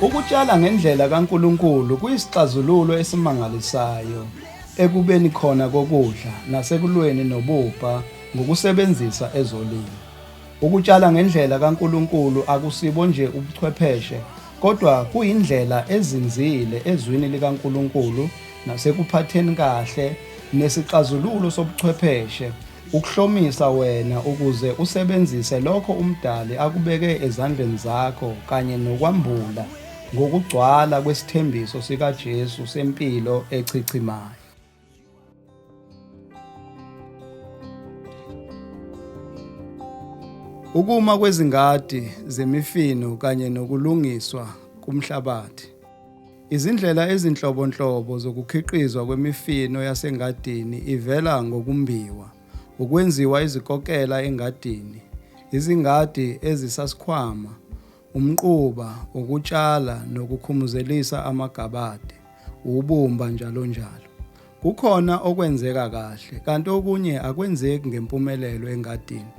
Ukutshala ngendlela kaNkulunkulu kuyisixazululo esimangalisayo ekubeni khona kokudla nasekulweni nobubha ngokusebenzisa ezolimo. Ukutshala ngendlela kaNkulunkulu akusibo nje ubuchwepheshe kodwa kuyindlela ezinzile ezwini likaNkulunkulu nasekuphatheni kahle nesixazululo sobuchwepheshe Ukuhlomisa wena ukuze usebenzise lokho uMdali akubeke ezandleni zakho kanye nokwambula ngokugcwala kwesithembiso sikaJesu sempilo echichimayo. Ukuma kwezingadi zemifino kanye nokulungiswa kumhlabathi. Izindlela ezinhlobonhlobo zokukhiqizwa kwemifino yasengadini ivela ngokumbiwa, ukwenziwa izikokela engadini, izingadi ezisasikhwama, umquba, ukutshala nokukhumuzelisa amagabade, ubumba njalonjalo. Kukhona okwenzeka kahle kanti okunye akwenzeki ngempumelelo engadini,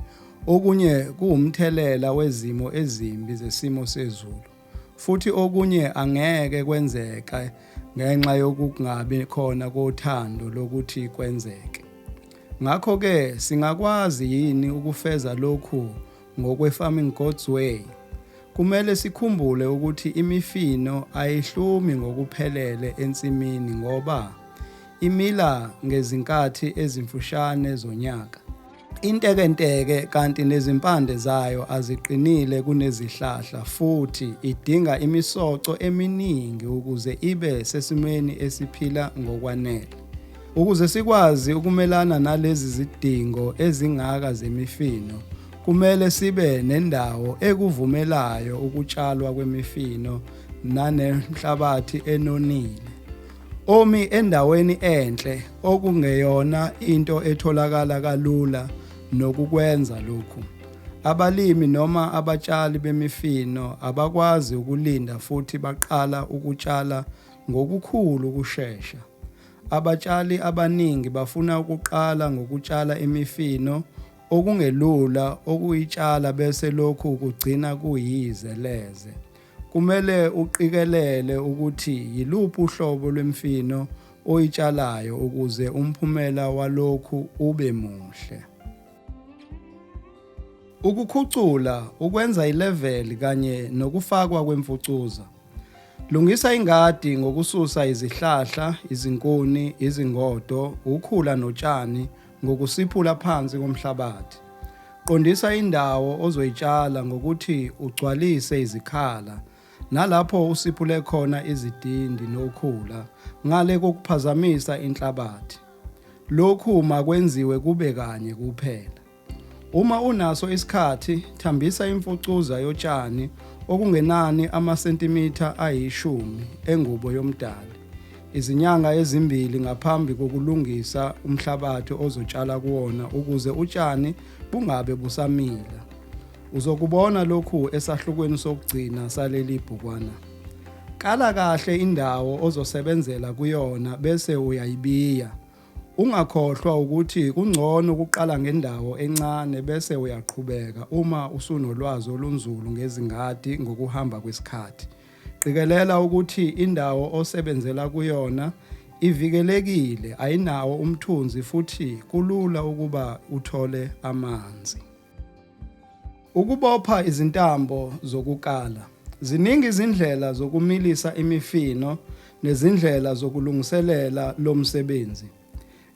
okunye kuwumthelela wezimo ezimbi zesimo sezulu. Futhi okunye angeke kwenzeke ngenxa yokungabi khona kothando lokuthi kwenzeke. Ngakho-ke singakwazi yini ukufeza lokhu ngokwe-Farming God's Way? Kumele sikhumbule ukuthi imifino ayihlumi ngokuphelele ensimini ngoba imila ngezinkathi ezimfushane zonyaka. Intekenteke kanti nezimpande zayo aziqinile kunezihlahla futhi idinga imisoco eminingi ukuze ibe sesimweni esiphila ngokwanele. Ukuze sikwazi ukumelana nalezi zidingo ezingaka zemifino, kumele sibe nendawo ekuvumelayo ukutshalwa kwemifino nanemhlabathi enonile. omi endaweni enhle okungeyona into etholakala kalula nokukwenza lokhu. Abalimi noma abatshali bemifino abakwazi ukulinda futhi baqala ukutshala ngokukhulu ukushesha. Abatshali abaningi bafuna ukuqala ngokutshala imifino okungelula ukuyitshala bese lokhu kugcina kuyize leze. Kumele uqikelele ukuthi yiluphi uhlobo lwemfino oyitshalayo ukuze umphumela walokhu ube muhle. Ukukhucula, ukwenza ileveli kanye nokufakwa kwemfucuza. Lungisa ingadi ngokususa izihlahla, izinkuni, izingodo, ukhula notshani ngokusiphula phansi komhlabathi. Qondisa indawo ozoyitshala ngokuthi ugcwalise izikhala nalapho usiphule khona izidindi nokhula ngale kokuphazamisa inhlabathi. Lokhu makwenziwe kube kanye kuphela. Uma unaso isikhathi, thambisa imfucuza yotshani okungenani amasentimitha ayishumi engubo yomdali. Izinyanga ezimbili ngaphambi kokulungisa umhlabathi ozotshala kuwona ukuze utshani bungabe busamila. Uzokubona lokhu esahlukweni sokugcina saleli bhukwana. Kala kahle indawo ozosebenzela kuyona bese uyayibiya. Ungakhohlwa ukuthi kungcono ukuqala ngendawo encane bese uyaqhubeka uma usunolwazi olunzulu ngezingadi ngokuhamba kwesikhathi. Qikelela ukuthi indawo osebenzela kuyona ivikelekile, ayinawo umthunzi futhi kulula ukuba uthole amanzi. Ukubopha izintambo zokukala. Ziningi izindlela zokumilisa imifino nezindlela zokulungiselela lo msebenzi.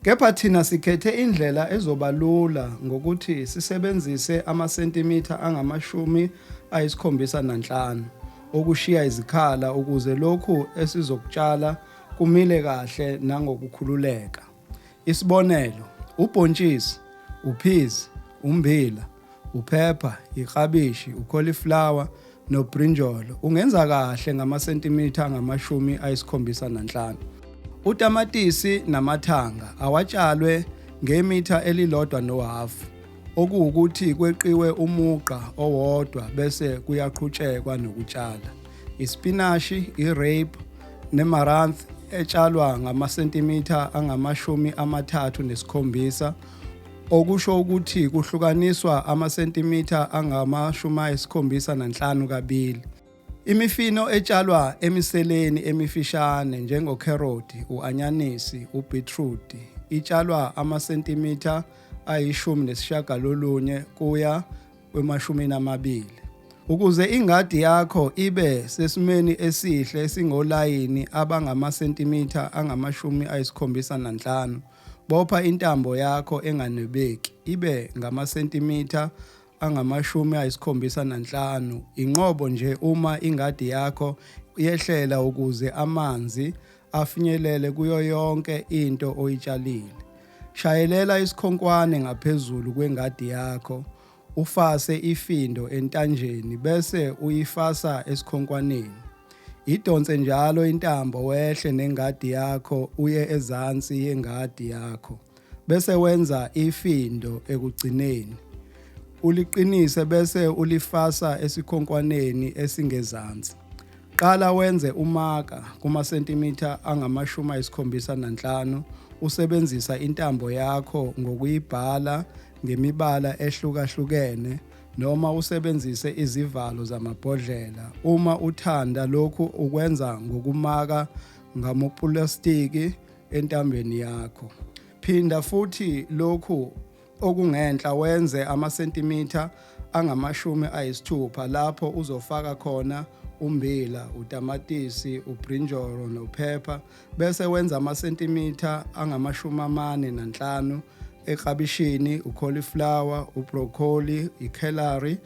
Kepha thina sikhethe indlela ezoba lula ngokuthi sisebenzise amasentimitha angamashumi ayisikhombisa nanhlanu okushiya izikhala ukuze lokhu esizokutshala kumile kahle nangokukhululeka. Isibonelo, ubhontshisi, uphizi, ummbila, uphepha, iklabishi, ukholiflawa nobrinjolo ungenza kahle ngamasentimitha angamashumi ayisikhombisa nanhlanu. Utamatisi namathanga awatshalwe ngemitha elilodwa nohhafu okuwukuthi kweqiwe umugqa owodwa bese kuyaqhutshekwa nokutshala. Isipinashi, i-rape nemaranth etshalwa ngamasentimitha angamashumi amathathu nesikhombisa okusho ukuthi kuhlukaniswa amasentimitha angamashumi ayisikhombisa nanhlanu kabili. Imifino etshalwa emiseleni emifishane njengokheroti, u-anyanisi, ubhithrudi itshalwa amasentimitha ayishumi nesishagalolunye kuya kwemashumini amabili. Ukuze ingadi yakho ibe sesimeni esihle esingolayini abangamasentimitha angamashumi ayisikhombisa nanhlanu, Bopha intambo yakho enganwebeki ibe ngamasentimitha angamashumi ayisikhombisa nanhlanu inqobo nje uma ingadi yakho yehlela ukuze amanzi afinyelele kuyo yonke into oyitshalile. Shayelela isikhonkwane ngaphezulu kwengadi yakho Ufase ifindo entanjeni bese uyifasa esikhonkwaneni. Idonse njalo intambo wehle nengadi yakho uye ezansi yengadi yakho bese wenza ifindo ekugcineni. Uliqinise bese ulifasa esikhonkwaneni esingezansi. Qala wenze umaka kumasentimitha angamashumi ayisikhombisa nanhlanu usebenzisa intambo yakho ngokuyibhala ngemibala ehlukahlukene noma usebenzise izivalo zamabhodlela uma uthanda lokhu ukwenza ngokumaka ngamopulasitiki entambeni yakho phinda futhi lokhu okungenhla wenze amasentimitha angamashumi ayisithupha lapho uzofaka khona umbila, utamatisi, ubrinjolo nophepha bese wenza amasentimitha angamashumi amane nanhlanu eklabishini ucauliflower ubroccoli icelery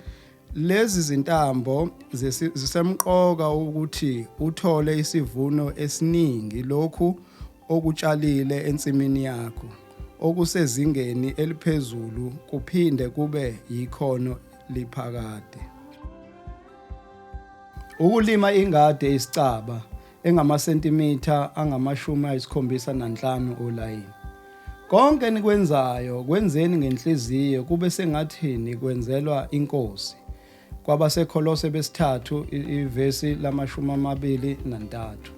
lezi zintambo zisemqoka ukuthi uthole isivuno esiningi lokhu okutshalile ensimini yakho okusezingeni eliphezulu kuphinde kube yikhono liphakade ukulima ingadi eyisicaba engamasentimitha angamashumi ayisikhombisa nanhlanu olayini. Konke enikwenzayo kwenzeni ngenhliziyo kube sengathi nikwenzelwa inkosi. KwabaseKholose besithathu ivesi lamashumi amabili nantathu.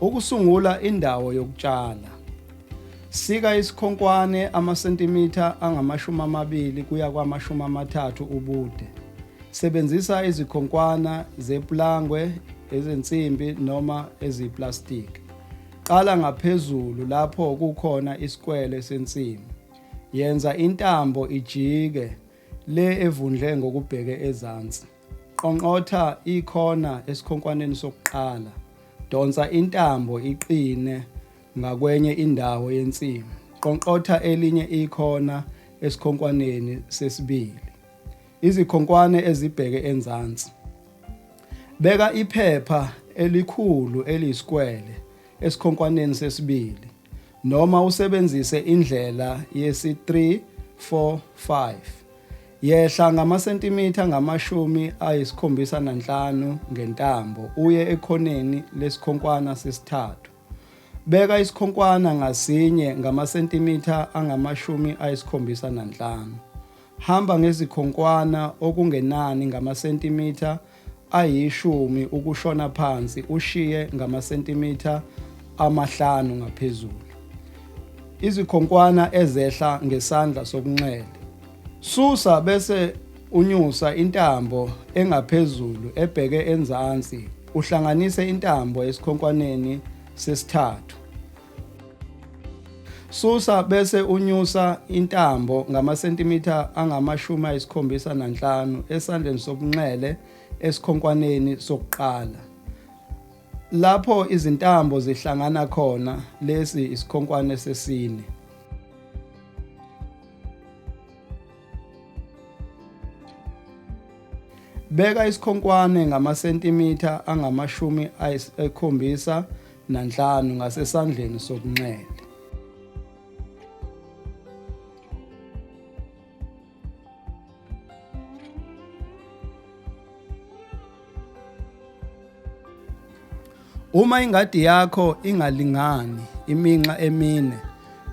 Ukusungula indawo yokutshala. Sika isikhonkwane amasentimitha angamashumi amabili kuya kwamashumi amathathu ubude. Sebenzisa izikhonkwana zepulangwe, ezensimbi noma eziyiplastiki. Qala ngaphezulu lapho kukhona isikwele sensimu. Yenza intambo ijike le evundle ngokubheke ezansi. Qonqotha ikhona esikhonkwaneni sokuqala. Donsa intambo iqine ngakwenye indawo yensimu. Qonqotha elinye ikhona esikhonkwaneni sesibili. Izikhonkwane ezibheke enzansi. Beka iphepha elikhulu eliyisikwele esikhonkwaneni sesibili noma usebenzise indlela yesi-3, 4, 5. Yehla ngamasentimitha angamashumi ayisikhombisa nanhlanu ngentambo uye ekhoneni lesikhonkwana sesithathu. Beka isikhonkwana ngasinye ngamasentimitha angamashumi ayisikhombisa nanhlanu. Hamba ngezikhonkwana okungenani ngamasentimitha ayishumi ukushona phansi ushiye ngamasentimitha amahlanu ngaphezulu izikhonkwana ezehla ngesandla sokunxele. Susa bese unyusa intambo engaphezulu ebheke enzansi uhlanganise intambo esikhonkwaneni sesithathu. Susa bese unyusa intambo ngamasentimitha angamashumi ayisikhombisa nanhlanu esandleni sokunxele esikhonkwaneni sokuqala. Lapho izintambo zihlangana khona lesi isikhonkwane sesine. Beka isikhonkwane ngamasentimitha angamashumi ayisikhombisa nanhlanu ngasesandleni sokunxele. Uma ingadi yakho ingalingani iminxa emine,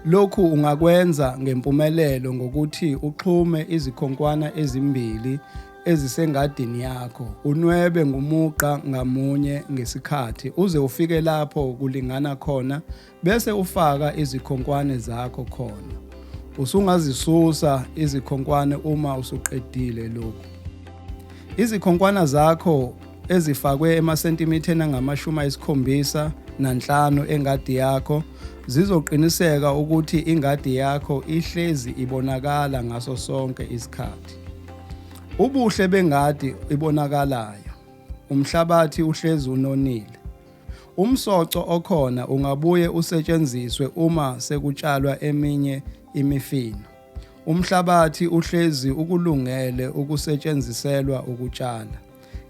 lokhu ungakwenza ngempumelelo ngokuthi uxhume izikhonkwana ezimbili ezisengadini yakho unwebe ngumugqa ngamunye ngesikhathi uze ufike lapho kulingana khona bese ufaka izikhonkwane zakho khona usungazisusa izikhonkwane uma usuqedile lokhu izikhonkwana zakho ezifakwe emasentimithen angamashumi ayisikhombisa nanhlanu engadi yakho zizoqiniseka ukuthi ingadi yakho ihlezi ibonakala ngaso sonke isikhathi Ubuhle bengadi ibonakalayo. Umhlabathi uhlezi unonile. Umsoco okhona ungabuye usetshenziswe uma sekutshalwa eminye imifino. Umhlabathi uhlezi ukulungele ukusetshenziselwa ukutshala.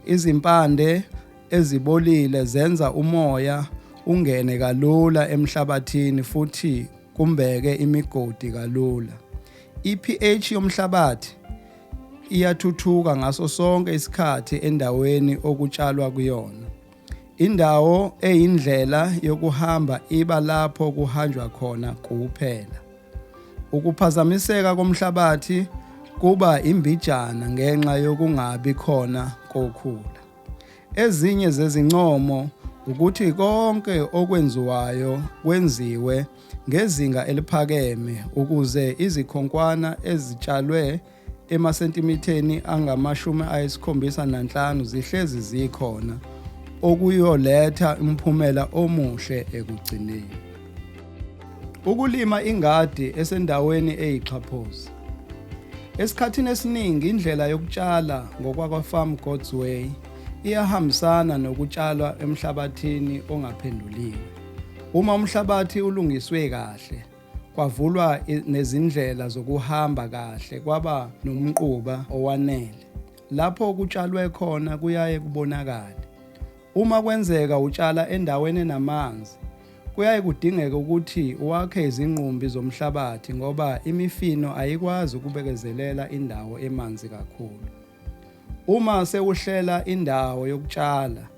Izimpande ezibolile zenza umoya ungene kalula emhlabathini futhi kumbeke imigodi kalula. I-pH yomhlabathi iyathuthuka ngaso sonke isikhathi endaweni okutshalwa kuyona. Indawo eyindlela yokuhamba iba lapho kuhanjwa khona kuphela. Ukuphazamiseka komhlabathi kuba imbijana ngenxa yokungabi khona kokhula. Ezinye zezincomo ukuthi konke okwenziwayo kwenziwe ngezinga eliphakeme ukuze izikhonkwana ezitshalwe emasentimiteni angamashumi ayisikhombisa nanhlanu zihlezi zikhona okuyoletha umphumela omuhle ekugcineni. Ukulima ingadi esendaweni eyixhaphozi. Esikhathini esiningi indlela yokutshala ngokwakwa-Farm God's Way iyahambisana nokutshalwa emhlabathini ongaphenduliwe. Uma umhlabathi ulungiswe kahle, kwavulwa nezindlela zokuhamba kahle, kwaba nomquba owanele. Lapho kutshalwe khona kuyaye kubonakale. Uma kwenzeka utshala endaweni enamanzi, kuyaye kudingeke ukuthi wakhe izinqumbi zomhlabathi ngoba imifino ayikwazi ukubekezelela indawo emanzi kakhulu. Uma sewuhlela indawo yokutshala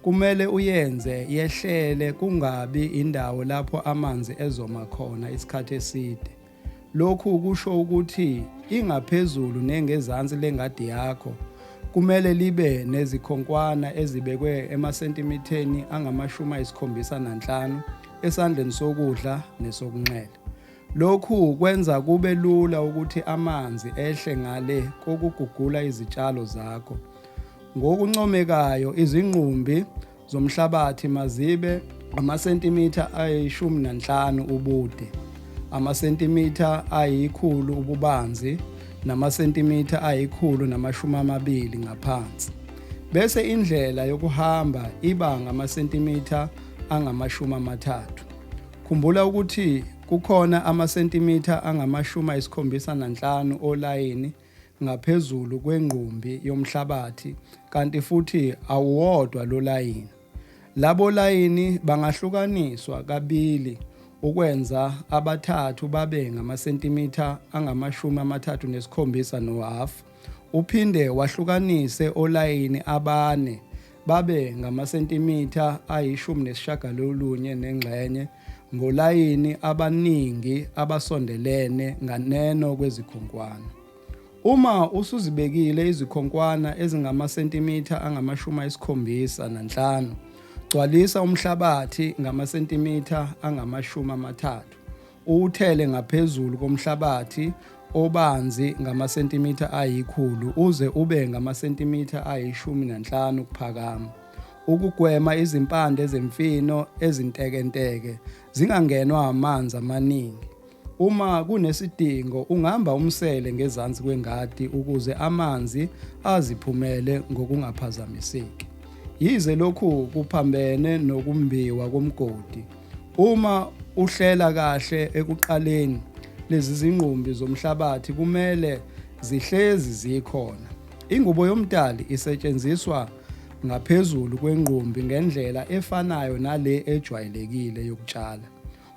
kumele uyenze yehlele kungabi indawo lapho amanzi ezoma khona isikhathi eside. Lokhu kusho ukuthi ingaphezulu nengezansi lengadi yakho kumele libe nezikhonkwana ezibekwe emasentimitheni angamashumi ayisikhombisa nanhlanu esandleni sokudla nesokunxele. Lokhu kwenza kube lula ukuthi amanzi ehle ngale kokugugula izitshalo zakho. Ngokuncomekayo izinqumbi zomhlabathi mazibe amasentimitha ayishumi nanhlanu ubude, amasentimitha ayikhulu ububanzi namasentimitha ayikhulu namashumi amabili ngaphansi. Bese indlela yokuhamba iba ngamasentimitha angamashumi amathathu. Khumbula ukuthi kukhona amasentimitha angamashumi ayisikhombisa nanhlanu olayini ngaphezulu kwengqumbi yomhlabathi kanti futhi awuwodwa lo layini. Labo layini bangahlukaniswa kabili ukwenza abathathu babe ngamasentimitha angamashumi amathathu nesikhombisa nohhafu, uphinde wahlukanise olayini abane babe ngamasentimitha ayishumi nesishagalolunye nengxenye ngolayini abaningi abasondelene nganeno kwezikhonkwane. Uma usuzibekile izikhonkwana ezingamasentimitha angamashumi ayisikhombisa nanhlanu, gcwalisa umhlabathi ngamasentimitha angamashumi amathathu Uwuthele ngaphezulu komhlabathi obanzi ngamasentimitha ayikhulu uze ube ngamasentimitha ayishumi nanhlanu ukuphakama ukugwema izimpande zemfino ezintekenteke zingangenwa amanzi amaningi. Uma kunesidingo ungamba umsele ngezansi kwengadi ukuze amanzi aziphumele ngokungaphazamiseki. Yize lokhu kuphambene nokumbiwa komgodi, Uma uhlela kahle ekuqaleni lezi zingqumbi zomhlabathi kumele zihlezi zikhona. Ingubo yomdali isetshenziswa ngaphezulu kwengqumbi ngendlela efanayo nale ejwayelekile yokutshala.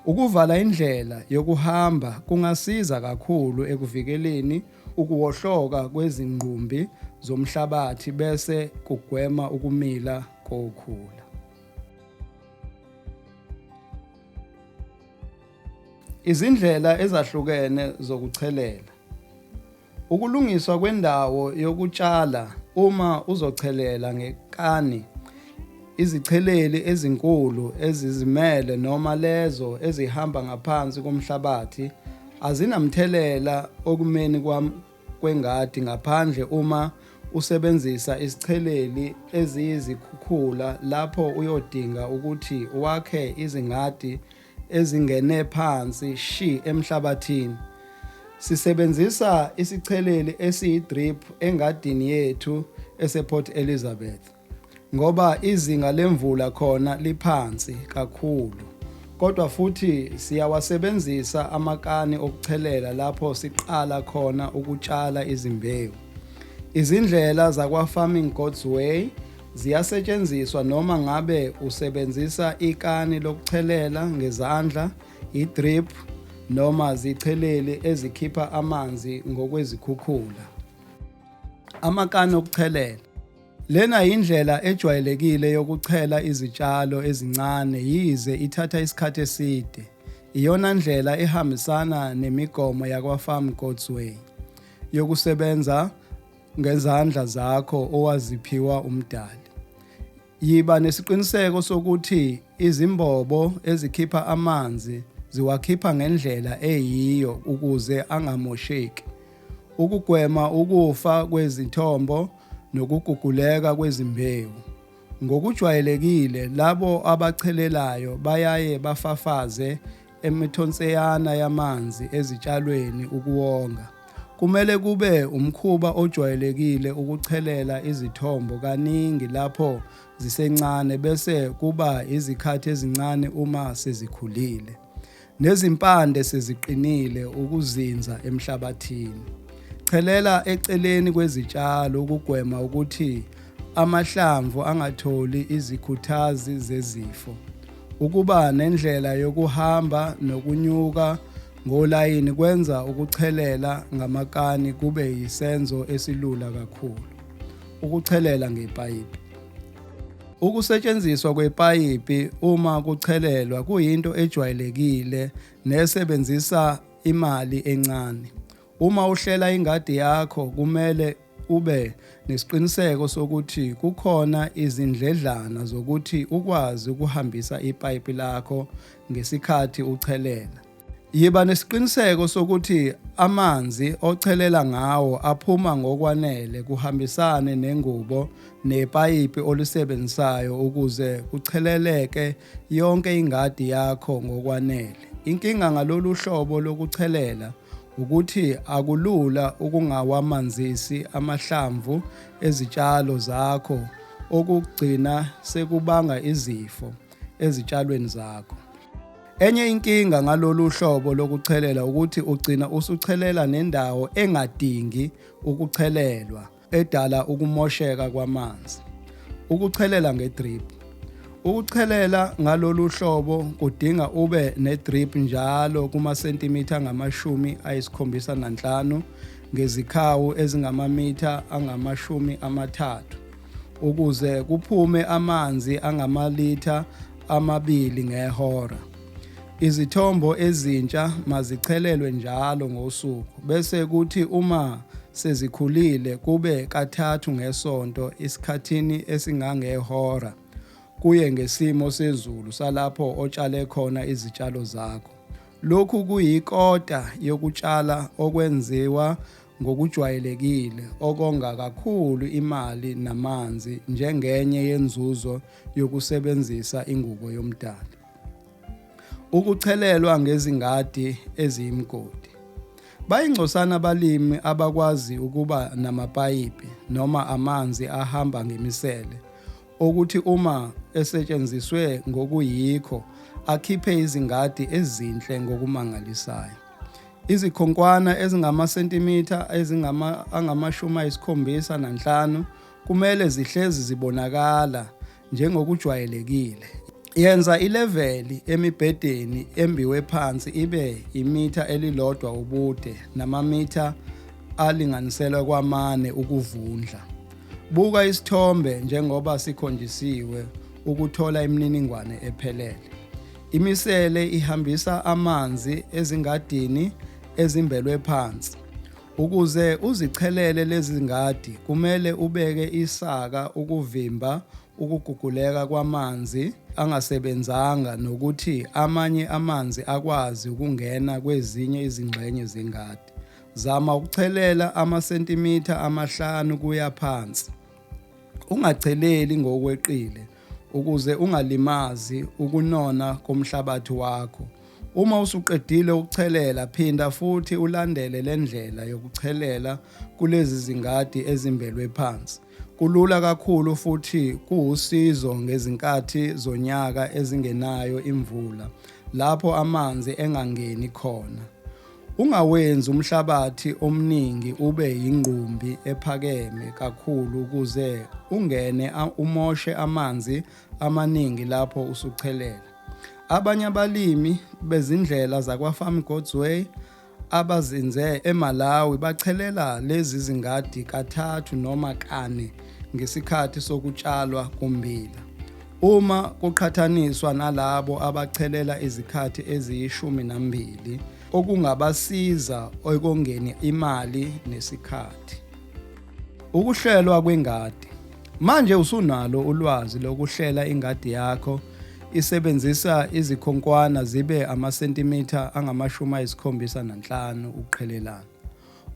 Ukuvala indlela yokuhamba kungasiza kakhulu ekuvikeleni ukuwohloka kwezingqumbi zomhlabathi bese kugwema ukumila kokhula. Izindlela ezahlukene zokuchelela. Ukulungiswa kwendawo yokutshala uma uzochelela ngekani izicheleli ezinkulu ezizimele noma lezo ezihamba ngaphansi komhlabathi azinamthelela okumeni kwam kwengadi ngaphandle uma usebenzisa isicheleli eziyizikhukhula lapho uyodinga ukuthi wakhe izingadi ezingene phansi shi emhlabathini. Sisebenzisa isicheleli esiyi-drip engadini yethu esePort Elizabeth. ngoba izinga lemvula khona liphansi kakhulu kodwa futhi siyawasebenzisa amakani okuchelela lapho siqala khona ukutshala izimbewu. Izindlela zakwa-Farming God's Way ziyasetshenziswa noma ngabe usebenzisa ikani lokuchelela ngezandla, i-drip noma zicheleli ezikhipha amanzi ngokwezikhukhula. Amakani okuchelela. Lena yindlela ejwayelekile yokuchela izitshalo ezincane yize ithatha isikhathi eside. Iyona ndlela ehambisana nemigomo yakwa-Farm God's Way yokusebenza ngezandla zakho owaziphiwa uMdali. Yiba nesiqiniseko sokuthi izimbobo ezikhipha amanzi ziwakhipha ngendlela eyiyo ukuze angamosheki. Ukugwema ukufa kwezithombo nokuguguleka kwezimbewu. Ngokujwayelekile labo abachelelayo bayaye bafafaze emithonseyana yamanzi ezitshalweni ukuwonga. Kumele kube umkhuba ojwayelekile ukuchelela izithombo kaningi lapho zisencane bese kuba izikhathi ezincane uma sezikhulile. nezimpande seziqinile ukuzinza emhlabathini. Chelela eceleni kwezitshalo ukugwema ukuthi amahlamvu angatholi izikhuthazi zezifo. Ukuba nendlela yokuhamba nokunyuka ngolayini kwenza ukuchelela ngamakani kube yisenzo esilula kakhulu. Ukuchelela ngepayipi Ukusetshenziswa kwepayipi uma kuchelelwa kuyinto ejwayelekile nesebenzisa imali encane. Uma uhlela ingadi yakho kumele ube nesiqiniseko sokuthi kukhona izindledlana zokuthi ukwazi ukuhambisa ipayipi lakho ngesikhathi uchelela. Yiba nesiqiniseko sokuthi amanzi ochelela ngawo aphuma ngokwanele kuhambisane nengubo nepayipi olisebenzisayo ukuze kucheleleke yonke ingadi yakho ngokwanele. Inkinga ngalolu hlobo lokuchelela ukuthi akulula ukungawamanzisi amahlamvu ezitshalo zakho okugcina sekubanga izifo. ezitshalweni zakho. Enye inkinga ngalolu hlobo lokuchelela ukuthi ugcina usuchelela nendawo engadingi ukuchelelwa edala ukumosheka kwamanzi. Ukuchelela ngedrip. Ukuchelela ngalolu hlobo kudinga ube nedrip njalo kumasentimitha angamashumi ayisikhombisa nanhlanu ngezikhawu ezingamamitha angamashumi amathathu. ukuze kuphume amanzi angamalitha amabili ngehora. Izithombo ezintsha mazichelelwe njalo ngosuku bese kuthi uma sezikhulile kube kathathu ngesonto isikhathini esingangehora kuye ngesimo sezulu salapho otshale khona izitshalo zakho. Lokhu kuyikota yokutshala okwenziwa ngokujwayelekile okonga kakhulu imali namanzi njengenye yenzuzo yokusebenzisa ingubo yomdali. Ukuchelelwa ngezingadi eziyimgodi. Bayingcosana abalimi abakwazi ukuba namapayipi noma amanzi ahamba ngemisele okuthi uma esetshenziswe ngokuyikho akhiphe izingadi ezinhle ngokumangalisayo. Izikhonkwana ezingamasentimitha ezingama angamashumi ayisikhombisa nanhlanu kumele zihlezi zibonakala njengokujwayelekile. Yenza ileveli emibhedeni embiwe phansi ibe imitha elilodwa ubude namamitha alinganiselwa kwamane ukuvundla. Buka isithombe njengoba sikhonjisiwe ukuthola imininingwane ephelele. Imisele ihambisa amanzi ezingadini ezimbelwe phansi. Ukuze uzichelele lezi ngadi kumele ubeke isaka ukuvimba ukuguguleka kwamanzi angasebenzanga nokuthi amanye amanzi akwazi ukungena kwezinye izingxenye zengadi. Zama ukuchelela amasentimitha amahlanu kuya phansi. Ungacheleli ngokweqile ukuze ungalimazi ukunona komhlabathi wakho. Uma usuqedile ukuchelela phinda futhi ulandele le ndlela yokuchelela kulezi zingadi ezimbelwe phansi. Kulula kakhulu futhi kuwusizo ngezinkathi zonyaka ezingenayo imvula lapho amanzi engangeni khona. Ungawenzi umhlabathi omningi ube yingqumbi ephakeme kakhulu ukuze ungene umoshe amanzi amaningi lapho usuchelela. Abanye abalimi bezindlela zakwa-Farm God's Way abazinze eMalawi bachelela lezi zingadi kathathu noma kane ngesikhathi sokutshalwa kommbila. Uma kuqhathaniswa nalabo abachelela izikhathi eziyishumi nambili okungabasiza ekongeni imali nesikhathi. Ukuhlelwa kwengadi. Manje usunalo ulwazi lokuhlela ingadi yakho isebenzisa izikhonkwana zibe amasentimitha angamashumi ayisikhombisa nanhlanu ukuqhelelana.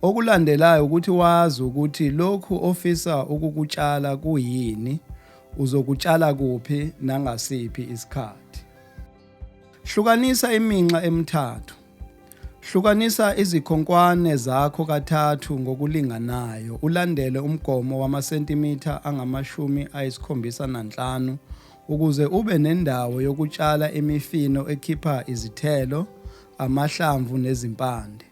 Okulandelayo ukuthi wazi ukuthi lokhu ofisa ukukutshala kuyini Uzokutshala kuphi nangasiphi isikhathi. Hlukanisa iminxa emithathu. Hlukanisa izikhonkwane zakho kathathu ngokulinganayo ulandele umgomo wamasentimitha angamashumi ayisikhombisa nanhlanu ukuze ube nendawo yokutshala imifino ekhipha izithelo, amahlamvu nezimpande.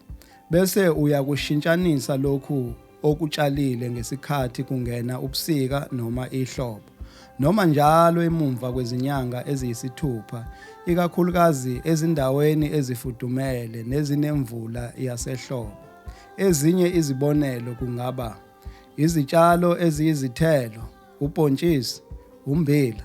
Bese uyakushintshanisa lokhu okutshalile ngesikhathi kungena ubusika noma ihlobo noma njalo emumva kwezinyanga eziyisithupha ikakhulukazi ezindaweni ezifudumele nezinemvula yasehlobo ezinye izibonelo kungaba izitshalo eziyizithelo ubhontshisi umbila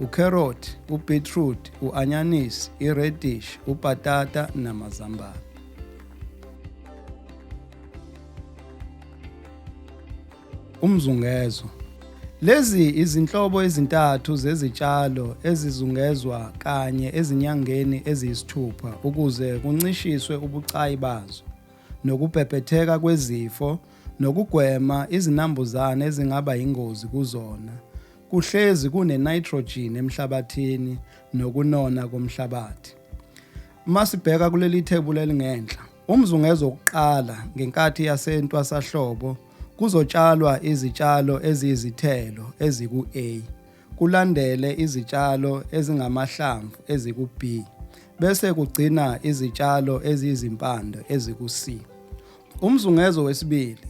ukherothi, ubhitrudi, u-anyanisi, iredish, ubhatata namazambane. Umzungezo Lezi izinhlobo ezintathu zezitshalo ezizungezwa kanye ezinyangeni eziyisithupha ukuze kuncishiswe ubucayi bazo nokubhebhetheka kwezifo nokugwema izinambuzane ezingaba yingozi kuzona kuhlezi kune-nitrogen emhlabathini nokunona komhlabathi. Uma sibheka kuleli thebula elingenhla, umzungeza wokuqala ngenkathi yasentwasahlobo kuzotshalwa izitshalo eziyizithelo eziku-A, kulandele izitshalo ezingamahlamvu eziku-B, bese kugcina izitshalo eziyizimpande eziku-C. Umzungezo wesibili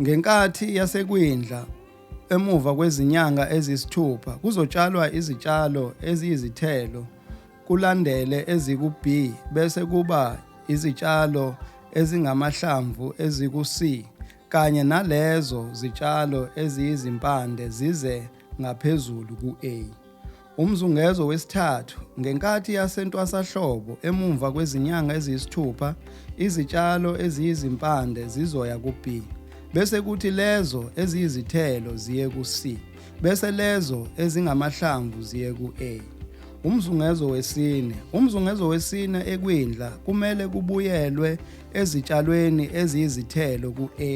Ngenkathi yasekwindla emuva kwezinyanga ezisithupha kuzotshalwa izitshalo eziyizithelo kulandele eziku-B bese kuba izitshalo ezingamahlamvu eziku-C kanye nalezo zitshalo eziyizimpande zize ngaphezulu ku-A. Umzungezo wesithathu, ngenkathi yasentwasahlobo, emumva kwezinyanga eziyisithupha, izitshalo eziyizimpande zizoya ku-B, bese kuthi lezo eziyizithelo ziye ku-C, bese lezo ezingamahlamvu ziye ku-A. Umzungezo wesine, umzungezo wesine ekwindla kumele kubuyelwe ezitshalweni eziyizithelo ku-A,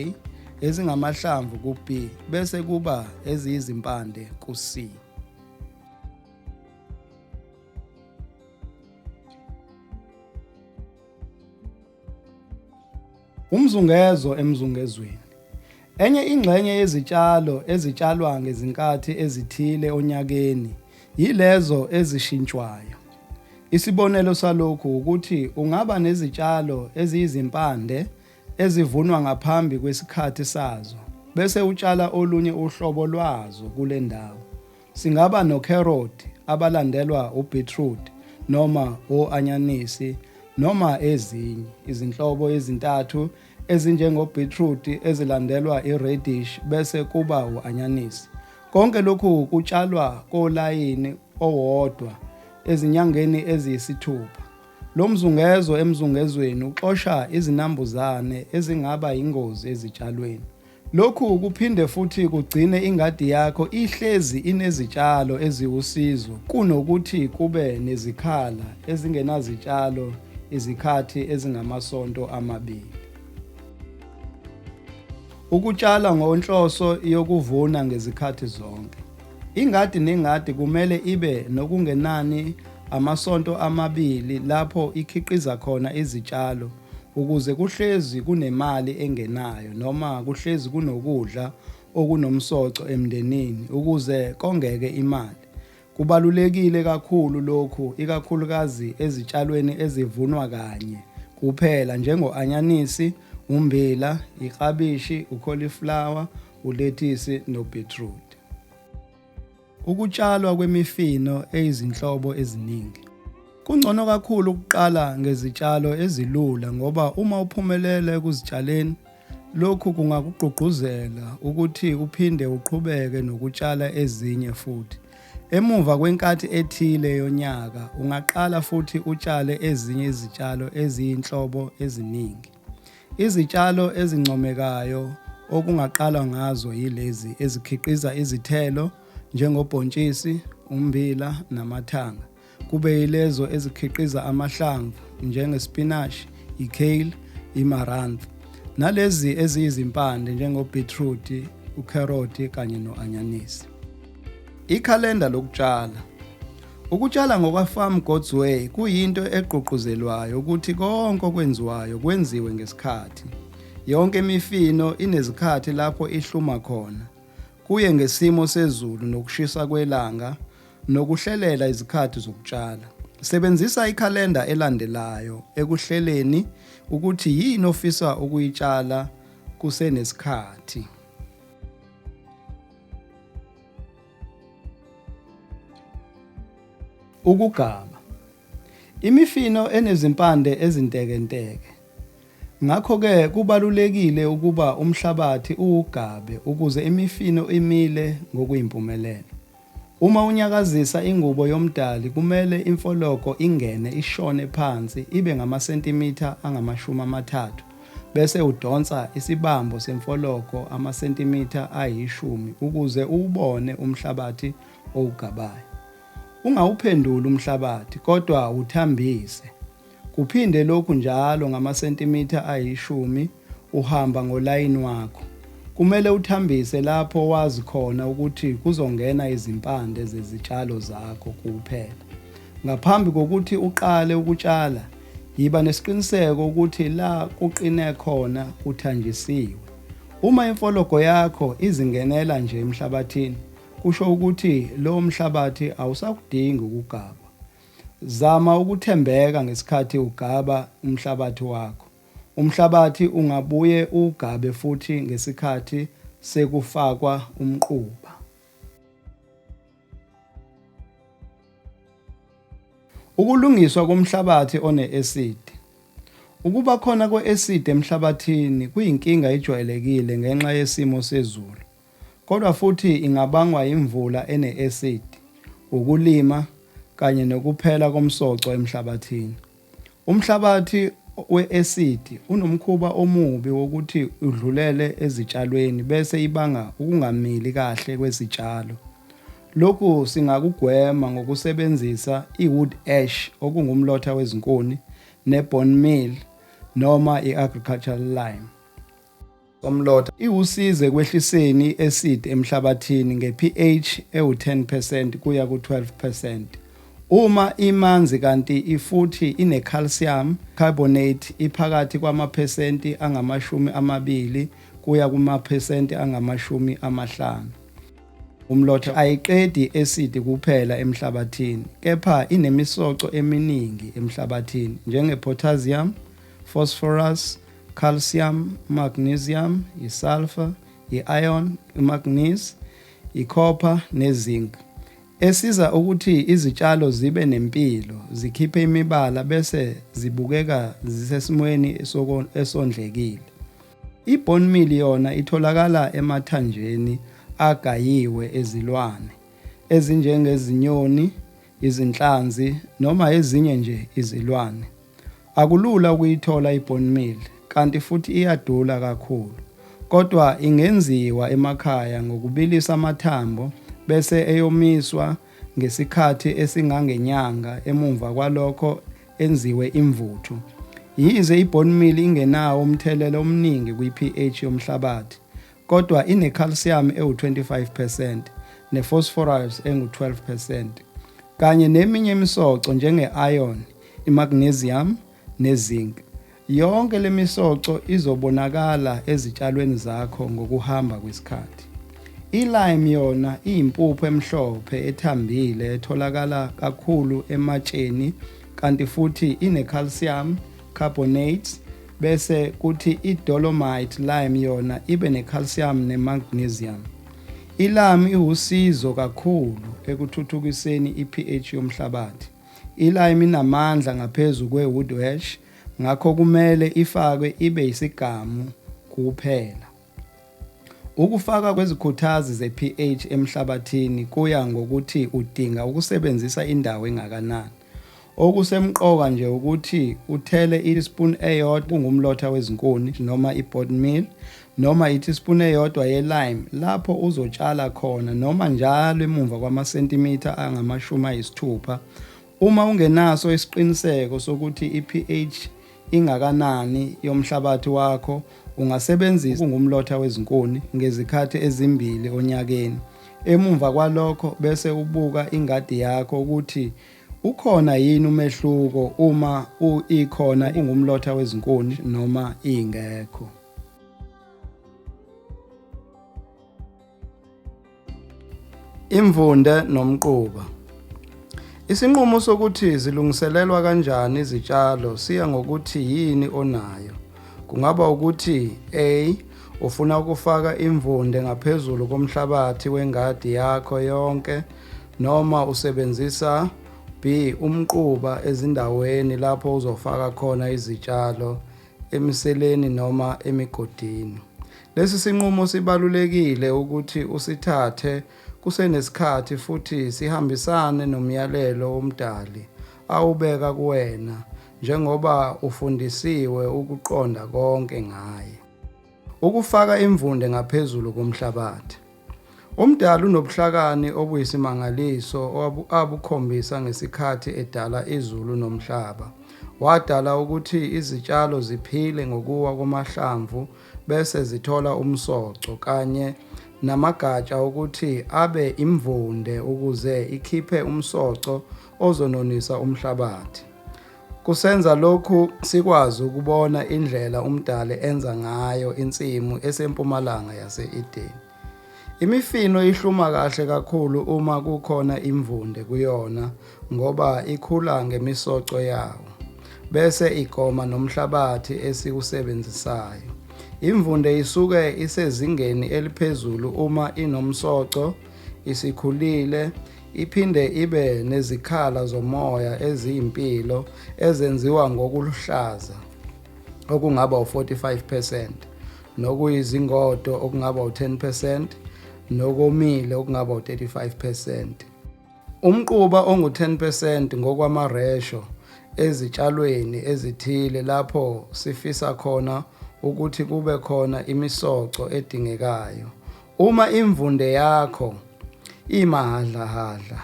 ezingamahlamvu ku-B, bese kuba eziyizimpande ku-C. Umzungezo emzungezweni. Enye ingxenye yezitshalo ezitshalwa ngezinkathi ezithile onyakeni yilezo ezishintshwayo. Isibonelo salokhu wukuthi ungaba nezitshalo eziyizimpande ezivunwa ngaphambi kwesikhathi sazo bese utshala olunye uhlobo lwazo kule ndawo. Singaba nokheroti abalandelwa ubhitrudi noma o-anyanisi noma ezinye izinhlobo ezintathu ezinjengobhitrudi ezilandelwa iredish bese kuba u-anyanisi. Konke lokhu kutshalwa kolayini owodwa ezinyangeni eziyisithupha. Lo mzungezo emzungezweni uxosha izinambuzane ezingaba yingozi ezitshalweni. Lokhu kuphinde futhi kugcine ingadi yakho ihlezi inezitshalo eziwusizo kunokuthi kube nezikhala ezingenazitshalo izikhathi ezingamasonto amabili. Ukutshala ngonhloso yokuvuna ngezikhathi zonke. Ingadi nengadi kumele ibe nokungenani amasonto amabili lapho ikhiqiza khona izitshalo ukuze kuhlezi kunemali engenayo noma kuhlezi kunokudla okunomsoco emndenini ukuze kongeke imali. Kubalulekile kakhulu lokhu ikakhulukazi ezitshalweni ezivunwa kanye kuphela njengo-anyanisi, ummbila, iklabishi, ukholiflawa, ulethisi nobhithrudi. Ukutshalwa kwemifino eyizinhlobo eziningi. Kungcono kakhulu ukuqala ngezitshalo ezilula ngoba uma uphumelela ekuzitshaleni, lokhu kungakugqugquzela ukuthi uphinde uqhubeke nokutshala ezinye futhi. Emuva kwenkathi ethile yonyaka, ungaqala futhi utshale ezinye izitshalo eziyinhlobo eziningi. Izitshalo ezincomekayo okungaqalwa ngazo yilezi ezikhiqiza izithelo njengobhontshisi, ummbila namathanga, kube yilezo ezikhiqiza amahlamvu njengespinashi, i-kale, i-marantha, nalezi eziyizimpande njengo-beetroot, ukherothi kanye no-anyanisi. Ikhalenda lokutshala. Ukutshala ngokwaFarm God's Way kuyinto egqugquzelwayo ukuthi konke okwenziwayo kwenziwe ngesikhathi. Yonke imifino inezikhathi lapho ihluma khona. Kuye ngesimo sezulu nokushisa kwelanga nokuhlelela izikhathi zokutshala. Sebenzisa ikhalenda elandelayo ekuhleleni ukuthi yini ofisa ukuyitshala kusenesikhathi. Ukugama. Imifino enezimpande ezintekenteke. Ngakho-ke kubalulekile ukuba umhlabathi uwugabe ukuze imifino imile ngokuyimpumelelo. Uma unyakazisa ingubo yoMdali kumele imfologo ingene ishone phansi ibe ngamasentimitha angamashumi amathathu bese udonsa isibambo semfologo amasentimitha ayishumi ukuze uwubone umhlabathi owugabayo. Ungawuphenduli umhlabathi kodwa wuthambise. Kuphinde lokhu njalo ngamasentimitha ayishumi uhamba ngolayini wakho. Kumele uthambise lapho wazi khona ukuthi kuzongena izimpande zezitshalo zakho kuphela. Ngaphambi kokuthi uqale ukutshala, Yiba nesiqiniseko ukuthi la kuqine khona kuthanjisiwe. Uma imfologo yakho izingenela nje emhlabathini, kusho ukuthi lowo mhlabathi awusakudingi ukugabwa. Zama ukuthembeka ngesikhathi ugaba umhlabathi wakho. Umhlabathi ungabuye uwugabe futhi ngesikhathi sekufakwa umquba. Ukulungiswa komhlabathi one-acid. Ukuba khona kwe-acid emhlabathini kuyinkinga ejwayelekile ngenxa yesimo sezulu, kodwa futhi ingabangwa imvula ene-acid, ukulima, kanye nokuphela komsoco emhlabathini. Umhlabathi we-esidi unomkhuba omubi wokuthi udlulele ezitshalweni bese ibanga ukungamili kahle kwezitshalo. Lokhu singakugwema ngokusebenzisa i-wood ash okungumlotha wezinkuni ne-bone meal noma i-agricultural lime. somlotha iwusiza ekwehliseni i-acid emhlabathini nge-pH ewu-10 percent kuya ku-12 percent. Uma imanzi kanti ifuthi ine-calcium carbonate iphakathi kwamaphesenti angamashumi amabili kuya kumaphesenti angamashumi amahlanu. Umlotha ayiqedi i-acid kuphela emhlabathini kepha inemisoco eminingi emhlabathini njenge-potassium, phosphorus, calcium, magnesium, isulfur, i-iron, imanganese, icopper nezinc esiza ukuthi izitshalo zibe nempilo, zikhiphe imibala bese zibukeka zisesimweni esondlekile. I-bone meal yona itholakala emathanjeni agayiwe ezilwane ezinjengezinyoni, izinhlanzi noma ezinye nje izilwane. Akulula ukuyithola i-bone meal kanti futhi iyadula kakhulu kodwa ingenziwa emakhaya ngokubilisa amathambo bese eyomiswa ngesikhathi esingangenyanga emumva kwalokho enziwe imvuthu. Yize i-bone meal ingenawo umthelela omningi kwi-pH yomhlabathi kodwa inecalcium ewu-25 percent nephosphorus engu-12 percent kanye neminye imisoco njenge-iron, imagnesium nezinc. Yonke le misoco izobonakala ezitshalweni zakho ngokuhamba kwesikhathi. I-lime yona iyimpuphu emhlophe ethambile etholakala kakhulu ematsheni kanti futhi inecalcium carbonate bese kuthi i-dolomite lime yona ibe ne-calcium ne-magnesium. I-lime iwusizo kakhulu ekuthuthukiseni i-pH yomhlabathi. I-lime inamandla ngaphezu kwe-wood ash ngakho kumele ifakwe ibe yisigamu kuphela. Ukufakwa kwezikhuthazi ze-pH emhlabathini kuya ngokuthi udinga ukusebenzisa indawo engakanani. Okusemqoka nje ukuthi uthele i-teaspoon eyodwa kungumlotha wezinkuni noma i-bone meal noma i-teaspoon eyodwa ye-lime lapho uzotshala khona noma njalo emumva kwamasentimitha angamashumi ayisithupha Uma ungenaso isiqiniseko sokuthi i-pH ingakanani yomhlabathi wakho ungasebenzisa ungumlotha wezinkuni ngezikhathi ezimbili onyakeni. Emumva kwalokho bese ubuka ingadi yakho ukuthi ukhona yini umehluko uma u ikhona ungumlotha wezinkuni noma ingekho. Imvunde nomquba. Isinqumo sokuthi zilungiselelwa kanjani izitshalo siya ngokuthi yini onayo. Kungaba ukuthi A ufuna ukufaka imvunde ngaphezulu komhlabathi wengadi yakho yonke noma usebenzisa B umquba ezindaweni lapho uzofaka khona izitshalo emiseleni noma emigodini. Lesi sinqumo sibalulekile ukuthi usithathe kusenesikhathi futhi sihambisane nomyalelo woMdali awubeka kuwena njengoba ufundisiwe ukuqonda konke ngaye. Ukufaka imvunde ngaphezulu komhlabathi. UMdali unobuhlakani obuyisimangaliso abukhombisa ngesikhathi edala izulu nomhlaba. Wadala ukuthi izitshalo ziphile ngokuwa kwamahlamvu bese zithola umsoco kanye namagatsha ukuthi abe imvunde ukuze ikhiphe umsoco ozononisa umhlabathi. Kusenza lokhu sikwazi ukubona indlela uMdali enza ngayo insimu esempumalanga yase-Edeni. Imifino ihluma kahle kakhulu uma kukhona imvunde kuyona ngoba ikhula ngemisoco yawo bese igoma nomhlabathi esiwusebenzisayo. Imvunde isuke isezingeni eliphezulu uma inomsoco, isikhulile, Iphinde ibe nezikhala zomoya eziyimpilo ezenziwa ngokuluhlaza okungaba u-45 percent nokuyizingodo okungaba u-10 percent nokomile okungaba u-35 percent. Umquba ongu-10 percent ngokwamaresho ezitshalweni ezithile lapho sifisa khona ukuthi kube khona imisoco edingekayo Uma imvunde yakho imahadlahadla,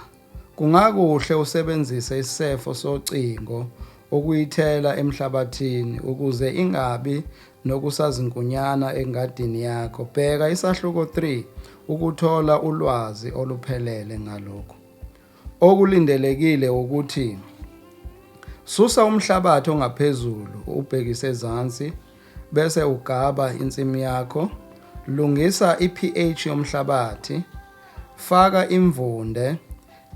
kungakuhle usebenzise isisefo socingo ukuyithela emhlabathini ukuze ingabi nokusazinkunyana engadini yakho. Bheka isahluko 3 ukuthola ulwazi oluphelele ngalokhu. Okulindelekile wukuthi susa umhlabathi ongaphezulu ubhekise ezansi bese ugaba insimu yakho. Lungisa i-pH yomhlabathi, faka imvunde,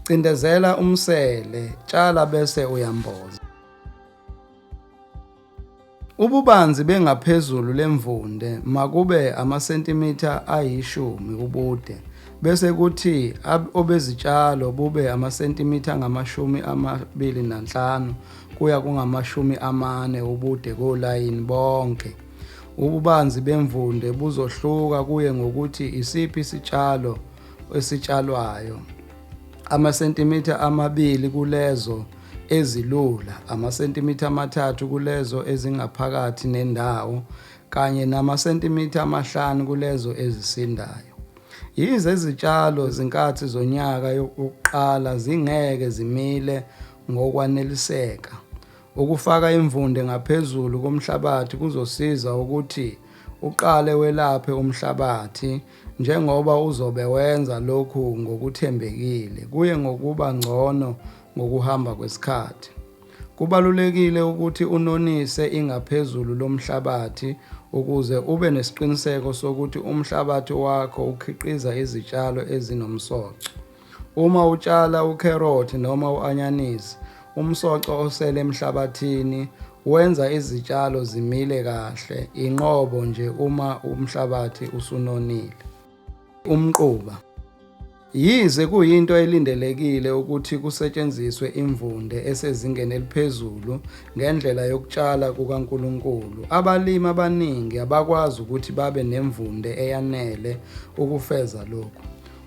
cindezela umsele, tshala bese uyamboza. Ububanzi bengaphezulu lemvunde makube amasentimitha ayishumi ubude bese kuthi obezitshalo bube amasentimitha angamashumi amabili nanhlanu kuya kungamashumi amane ubude kolayini bonke. Ububanzi bemvunde buzohluka kuye ngokuthi isiphi isitshalo esitshalwayo. Amasentimitha amabili kulezo ezilula, amasentimitha amathathu kulezo ezingaphakathi nendawo kanye namasentimitha amahlanu kulezo ezisindayo. Yize izitshalo zinkathi zonyaka yokuqala zingeke zimile ngokwaneliseka, ukufaka imvunde ngaphezulu komhlabathi kuzosiza ukuthi uqale welaphe umhlabathi Njengoba uzobe wenza lokhu ngokuthembekile, kuye ngokuba ngcono ngokuhamba kwesikhathi. Kubalulekile ukuthi unonise ingaphezulu lomhlabathi ukuze ube nesiqiniseko sokuthi umhlabathi wakho ukhiqiza izitshalo ezinomsoco. Uma utshala ukherothi noma u-anyanisi, umsoco osele emhlabathini wenza izitshalo zimile kahle, inqobo nje uma umhlabathi usunonile. Umquba. Yize kuyinto elindelekile ukuthi kusetshenziswe imvunde esezingeni eliphezulu ngendlela yokutshala kukaNkulunkulu, abalimi abaningi abakwazi ukuthi babe nemvunde eyanele ukufeza lokhu.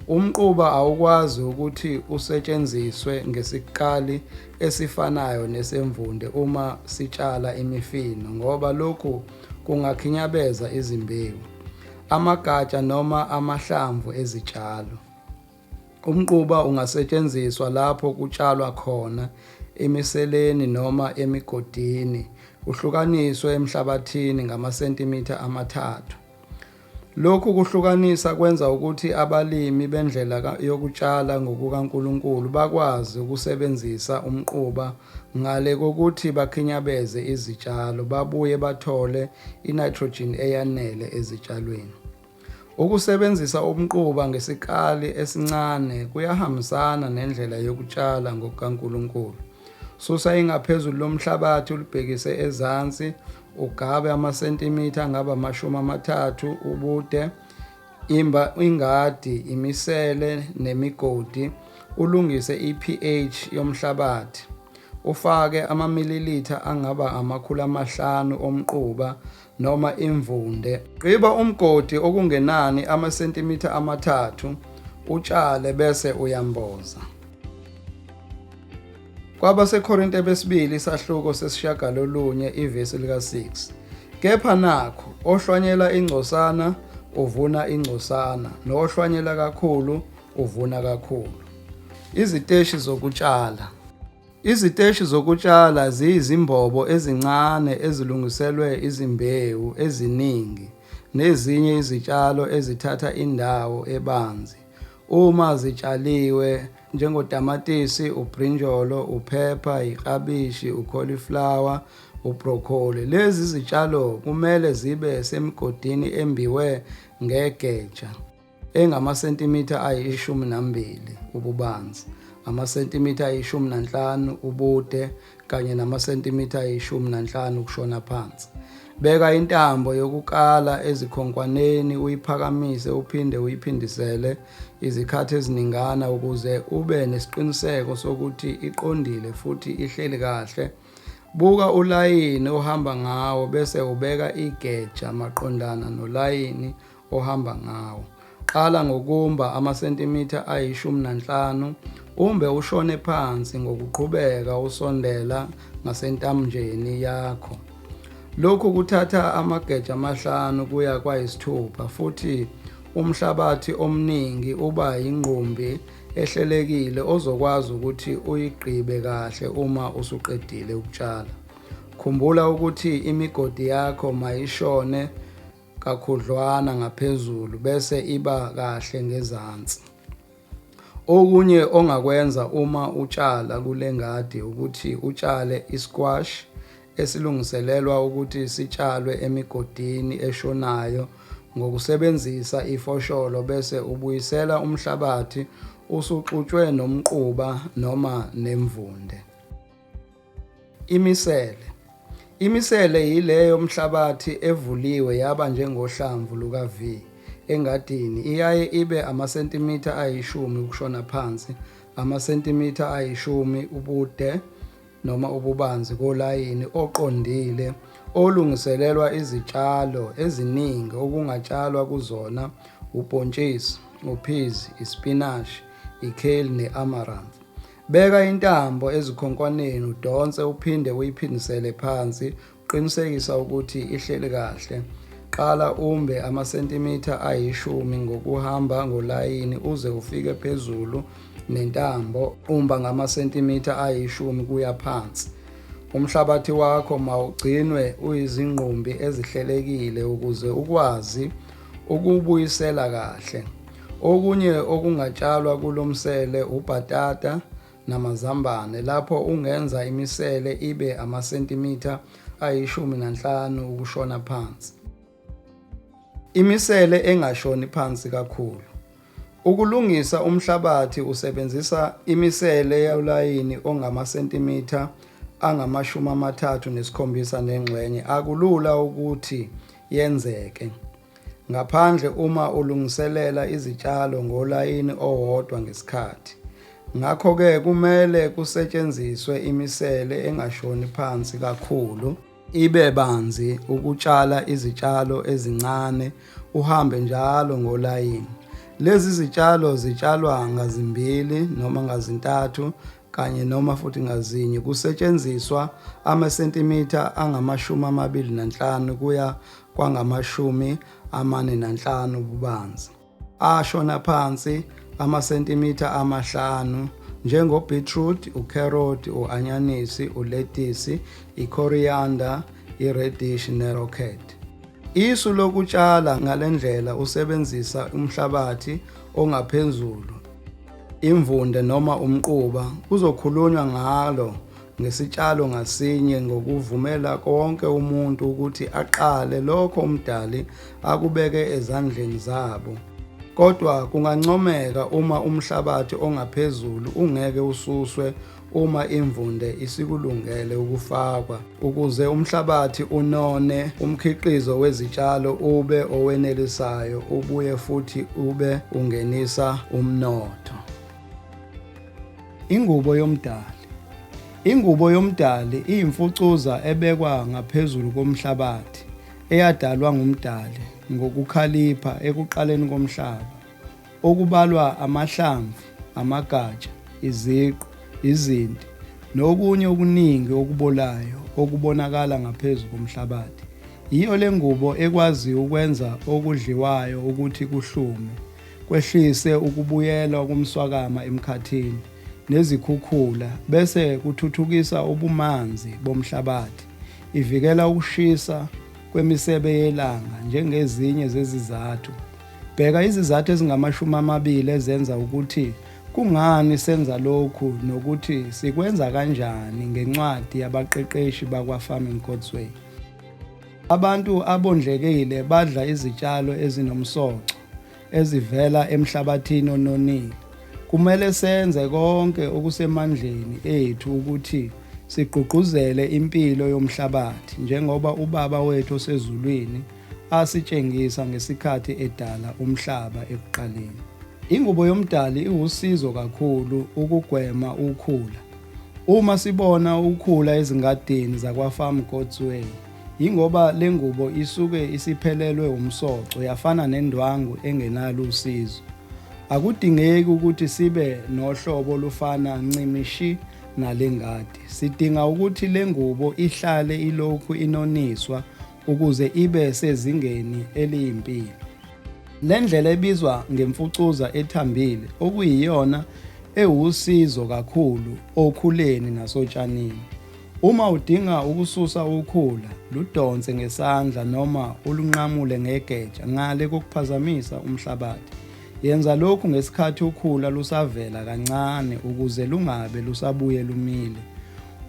Umquba awukwazi ukuthi usetshenziswe ngesikali esifanayo nesemvunde uma sitshala imifino ngoba lokhu kungakhinyabeza izimbewu, amagatsha noma amahlamvu ezitshalo. Umquba ungasetshenziswa lapho kutshalwa khona emiseleni noma emigodini, uhlukaniswe emhlabathini ngamasentimitha amathathu. Lokhu kuhlukanisa kwenza ukuthi abalimi bendlela yokutshala ngokukaNkulunkulu bakwazi ukusebenzisa umquba ngale kokuthi bakhinyabeze izitshalo babuye bathole i-nitrogen eyanele ezitshalweni. Ukusebenzisa umquba ngesikali esincane kuyahambisana nendlela yokutshala ngokukaNkulunkulu. Susa ingaphezulu lomhlabathi ulibhekise ezansi Ugabe amasentimitha angaba amashumi amathathu ubude. Imba ingadi, imisele nemigodi, ulungise i-pH yomhlabathi. Ufake amamililitha angaba amakhulu amahlanu omquba noma imvunde. Gqiba umgodi okungenani amasentimitha amathathu, utshale bese uyamboza. KwabaseKorinte besibili isahluko sesishagalolunye ivesi lika-6 Kepha nakhu, ohlwanyela ingcosana uvuna ingcosana, nohlwanyela kakhulu uvuna kakhulu. Iziteshi zokutshala Iziteshi zokutshala ziyizimbobo ezincane ezilungiselwe izimbewu eziningi nezinye izitshalo ezithatha indawo ebanzi uma zitshaliwe njengotamatisi, ubrinjolo, uphepha, iklabishi, ucauliflower, ubroccoli. Lezi zitshalo kumele zibe semigodini embiwe ngegeja engamasentimitha ayishumi nambili ububanzi, amasentimitha ayishumi nanhlanu ubude kanye namasentimitha ayishumi nanhlanu ukushona phansi. Beka intambo yokukala ezikhonkwaneni uyiphakamise uphinde uyiphindisele izikhathi eziningana ukuze ube nesiqiniseko sokuthi iqondile futhi ihleli kahle. Buka ulayini ohamba ngawo bese ubeka igeja maqondana nolayini ohamba ngawo. Qala ngokumba amasentimitha ayishumi nanhlanu, umbe ushone phansi ngokuqhubeka usondela ngasentamnjeni yakho. Lokhu kuthatha amageja amahlanu kuya kwayisithupha futhi umhlabathi omningi uba yingqumbi ehlelekile ozokwazi ukuthi uyigqibe kahle uma usuqedile ukutshala. Khumbula ukuthi imigodi yakho mayishone kakhudlwana ngaphezulu bese iba kahle ngezansi. Okunye ongakwenza uma utshala kule ngadi ukuthi utshale i-squash esilungiselelwa ukuthi sitshalwe emigodini eshonayo ngokusebenzisa ifosholo bese ubuyisela umhlabathi usuxutshwe nomquba noma nemvunde. Imisele Imisele yileyo mhlabathi evuliwe yaba njengohlamvu luka-V engadini iyaye ibe amasentimitha ayishumi ukushona phansi, amasentimitha ayishumi ubude noma ububanzi kolayini oqondile olungiselelwa izitshalo eziningi okungatshalwa kuzona ubhontshisi, uphizi, isipinashi, i-kale ne-amaranth. Beka intambo ezikhonkwaneni udonse uphinde uyiphindisele phansi uqinisekisa ukuthi ihleli kahle. Qala umbe amasentimitha ayishumi ngokuhamba ngolayini uze ufike phezulu nentambo umba ngamasentimitha ayishumi kuya phansi. Umhlabathi wakho mawugcinwe uyizingqumbi ezihlelekile ukuze ukwazi ukuwubuyisela kahle. Okunye okungatshalwa kulo msele ubhatata namazambane lapho ungenza imisele ibe amasentimitha ayishumi nanhlanu ukushona phansi. Imisele engashoni phansi kakhulu. Ukulungisa umhlabathi usebenzisa imisele yolayini ongamasentimitha angamashumi amathathu nesikhombisa nengxenye akulula ukuthi yenzeke, ngaphandle uma ulungiselela izitshalo ngolayini owodwa ngesikhathi. Ngakho-ke kumele kusetshenziswe imisele engashoni phansi kakhulu. Ibe banzi ukutshala izitshalo ezincane uhambe njalo ngolayini. Lezi zitshalo zitshalwa ngazimbili noma ngazintathu kanye noma futhi ngazinye kusetshenziswa amasentimitha angamashumi amabili nanhlanu kuya kwangamashumi amane nanhlanu ububanzi. ashona phansi amasentimitha amahlanu njengobeetroot, ucarrot, uanyanisi, uletisi, icoriander, iredish nerocket. Isu lokutshala ngalendlela usebenzisa umhlabathi ongaphezulu, imvunde noma umquba kuzokhulunywa ngalo ngesitshalo ngasinye ngokuvumela konke umuntu ukuthi aqale lokho umdali akubeke ezandleni zabo kodwa kungancomeka uma umhlabathi ongaphezulu ungeke ususwe uma imvunde isikulungele ukufakwa ukuze umhlabathi unone umkhiqizo wezitshalo ube owenelisayo ubuye futhi ube ungenisa umnotho Ingubo yomdali. Ingubo yomdali iyimfucuza ebekwa ngaphezulu komhlabathi eyadalwa ngumdali ngokukhalipha ekuqaleni komhlaba, okubalwa amahlamvu, amagatsha, iziqu, izinti, nokunye okuningi okubolayo okubonakala ngaphezu komhlabathi. Yiyo le ngubo ekwazi ukwenza okudliwayo ukuthi kuhlume, kwehlise ukubuyelwa komswakama emkhathini nezikhukhula bese kuthuthukisa ubumanzi bomhlabathi, ivikela ukushisa kwemisebe yelanga njengezinye zezizathu. Bheka izizathu ezingamashumi amabili ezenza ukuthi kungani senza lokhu nokuthi sikwenza kanjani ngencwadi yabaqeqeshi bakwa-Farming God's Way. Abantu abondlekile badla izitshalo ezinomsoco. ezivela emhlabathini ononile. Kumele senze konke okusemandleni ethu ukuthi sigqugquzele impilo yomhlabathi njengoba uBaba wethu osezulwini asitshengisa ngesikhathi edala umhlaba ekuqaleni. Ingubo yomdali iwusizo kakhulu ukugwema ukhula. Uma sibona ukhula ezingadini zakwa-Farm God's Way, Yingoba le ngubo isuke isiphelelwe umsoco yafana nendwangu engenalo usizo. Akudingeki ukuthi sibe nohlobo olufana ncimishi nale ngadi. Sidinga ukuthi le ngubo ihlale ilokhu inoniswa ukuze ibe sezingeni eliyimpilo. Le ndlela ebizwa ngemfucuza ethambile okuyiyona ewusizo kakhulu okhuleni nasotshanini. Uma udinga ukususa ukhula, ludonse ngesandla noma ulunqamule ngegeja ngale kokuphazamisa umhlabathi. Yenza lokhu ngesikhathi ukhula lusavela kancane ukuze lungabe lusabuye lumile.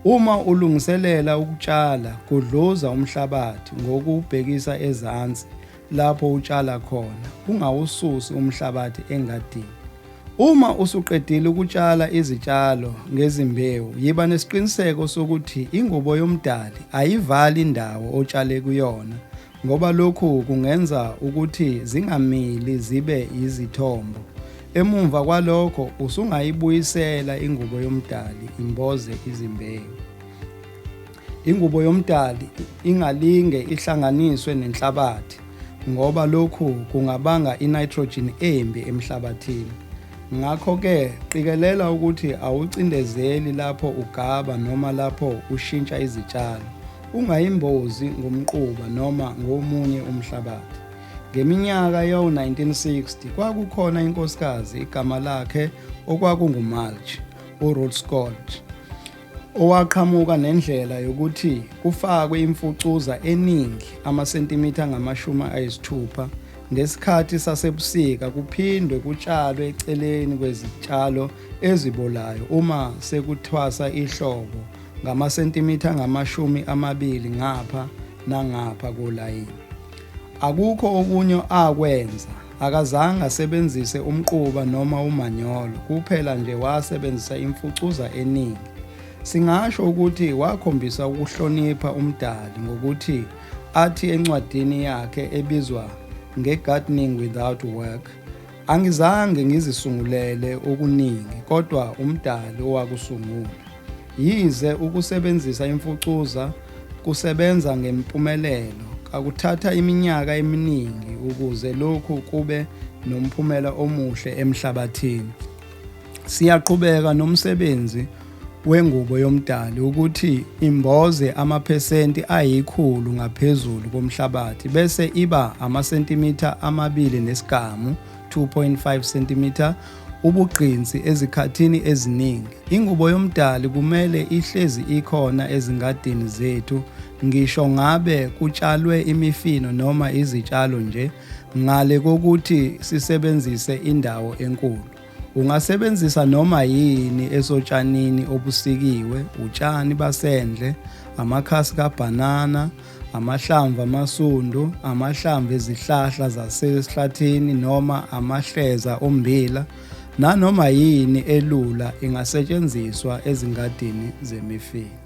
Uma ulungiselela ukutshala, gudluza umhlabathi ngokuwubhekisa ezansi Lapho utshala khona, ungawususi umhlabathi engadini. Uma usuqedile ukutshala izitshalo ngezimbewu, yiba nesiqiniseko sokuthi ingubo yoMdali ayivali indawo otshale kuyona ngoba lokhu kungenza ukuthi zingamili zibe yizithombo. Emumva kwalokho usungayibuyisela ingubo yoMdali imboze izimbewu. Ingubo yomdali ingalinge ihlanganiswe nenhlabathi ngoba lokhu kungabanga i-nitrogen embi emhlabathini. Ngakho-ke qikelela ukuthi awucindezeli lapho ugaba noma lapho ushintsha izitshalo. Ungayimbozi ngomquba noma ngomunye umhlabathi. Ngeminyaka yawo-1960 kwakukhona inkosikazi igama lakhe okwakungumulch, uRuth Scott. owaqhamuka nendlela yokuthi kufakwe imfucuza eningi amasentimitha angamashumi ayisithupha ngesikhathi sasebusika kuphindwe kutshalwe eceleni kwezitshalo ezibolayo uma sekuthwasa ihlobo ngamasentimitha angamashumi amabili ngapha nangapha kolayini. Akukho okunye akwenza Akazange asebenzise umquba noma umanyolo, kuphela nje wasebenzisa imfucuza eningi. Singasho ukuthi wakhombisa ukuhlonipha uMdali ngokuthi athi encwadini yakhe ebizwa nge-Gardening Without Work, Angizange ngizisungulele okuningi kodwa uMdali owakusungula. Yize ukusebenzisa imfucuza kusebenza ngempumelelo, kakuthatha iminyaka eminingi ukuze lokhu kube nomphumela omuhle emhlabathini. Siyaqhubeka nomsebenzi wengubo yomdali ukuthi imboze amaphesenti ayikhulu ngaphezulu komhlabathi bese iba amasentimitha amabili nesigamu, 2.5 cm, ubugqinsi ezikhathini eziningi. Ingubo yomdali kumele ihlezi ikhona ezingadini zethu ngisho ngabe kutshalwe imifino noma izitshalo nje ngale kokuthi sisebenzise indawo enkulu. Ungasebenzisa noma yini esotshanini obusikiwe, utshani basendle, amakhasi kabhanana, amahlamvu amasundu, amahlamvu ezihlahla zasesihlathini noma amahleza ommbila nanoma yini elula ingasetshenziswa ezingadini zemifino.